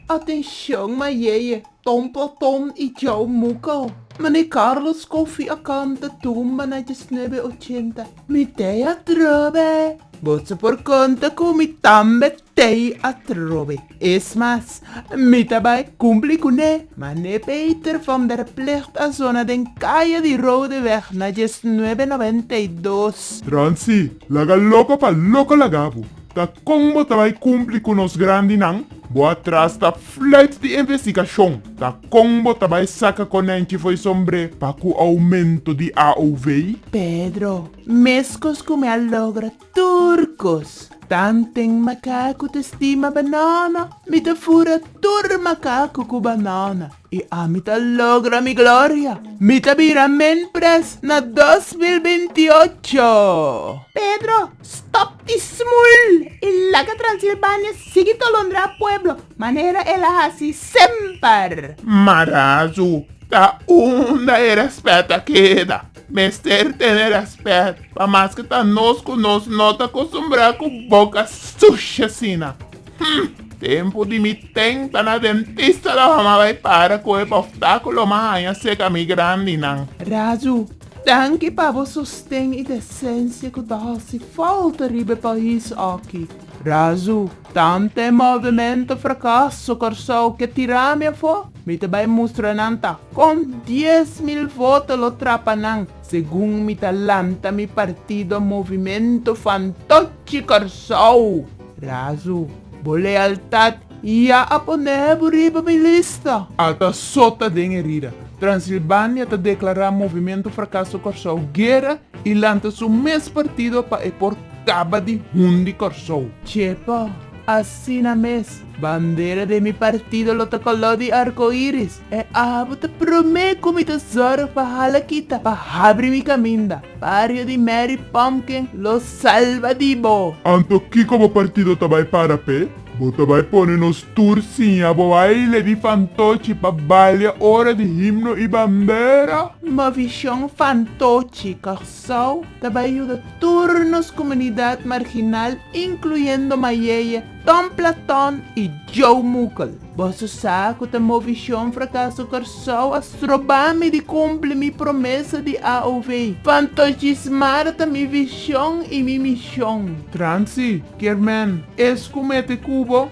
Atencion Mayeye, Tom Platon y Joe Muko. Mane Carlos Koffie a canta tumba na diesnuebe ochenta. Mi te a trobe. Bo ta por canta cu mi tambe. Tei atrobe es mas, mi ta bai kumpli ku ne, ma ne beter fom der plicht a zona den kaya di Rode weg na diesnuebe noventa i dos. Transi, laga loko pa loko laga bo, ta kon bo ta bai kumpli ku nos grandinan? Bo a trasta fluit di investigashon, ta kon bo ta bai saka konenchi for e sombre pa ku oumento di AOV? Pedro, Meskos ku mi a logra Tur cos. Tanten macacu ta stima banana, mi ta fura tur macacu cu banana y ami ta logra mi gloria. Mi ta bira menpres na dos mil binti ocho. Pedro, stop di smul y laga Transilvania sigui tolondra pueblo manera el a haci semper. Marazu ta unda e respet a keda. mester tene rèspèt, pa mas ke ta nos ku nos no ta kostumbrá ku boka sushi asina. Hm! Tempu di mi tenta na dentista lo hama bai para ku e bòftaku lo ma haña seka mi grandinan. Raju, danki pa bo sosten i desensia ku ta hasi fòlta riba e pais aki. Razu, tanta e movementu frakaso Kòrsou ke tira mi afó, mi ta bai mustra nan ta kon dies mil voto lo trapa nan segun mi ta lanta mi partido Movimentu Fantochi Kòrsou. Razu, bo lealtat ya a pon'é bo riba mi lista. A ta sota den herida. Transilbania ta deklará Movimentu Frakaso Kòrsou guera i lanta su mes partido pa e por. Caba di hundi Corsou. Chepa, asina mes, bandera de mi partido lo ta color di arcoiris, e abo ta prome cu mi ta zorg pa hala kita, pa habri mi caminda, bario di Mary Pumpkin lo salba di bo. Anto kico bo partido ta bay para p'e? Bo ta bay pone nos tur siña bo baile di fantochi pa balia ora di himno y bandera? Mo vision fantochi, Sou ta bai yuda tur nos kumunidat marginal inkluyendo Mayeye, Ton Platon i Joe Mukel. Boso sa ku ta Movishon Frakaso Kòrsou a stroba mi di kumpli mi promesa di AOV. Fantochismara ta mi vishon i mi mishon. Transi, Kermèn, es ku mete kubo?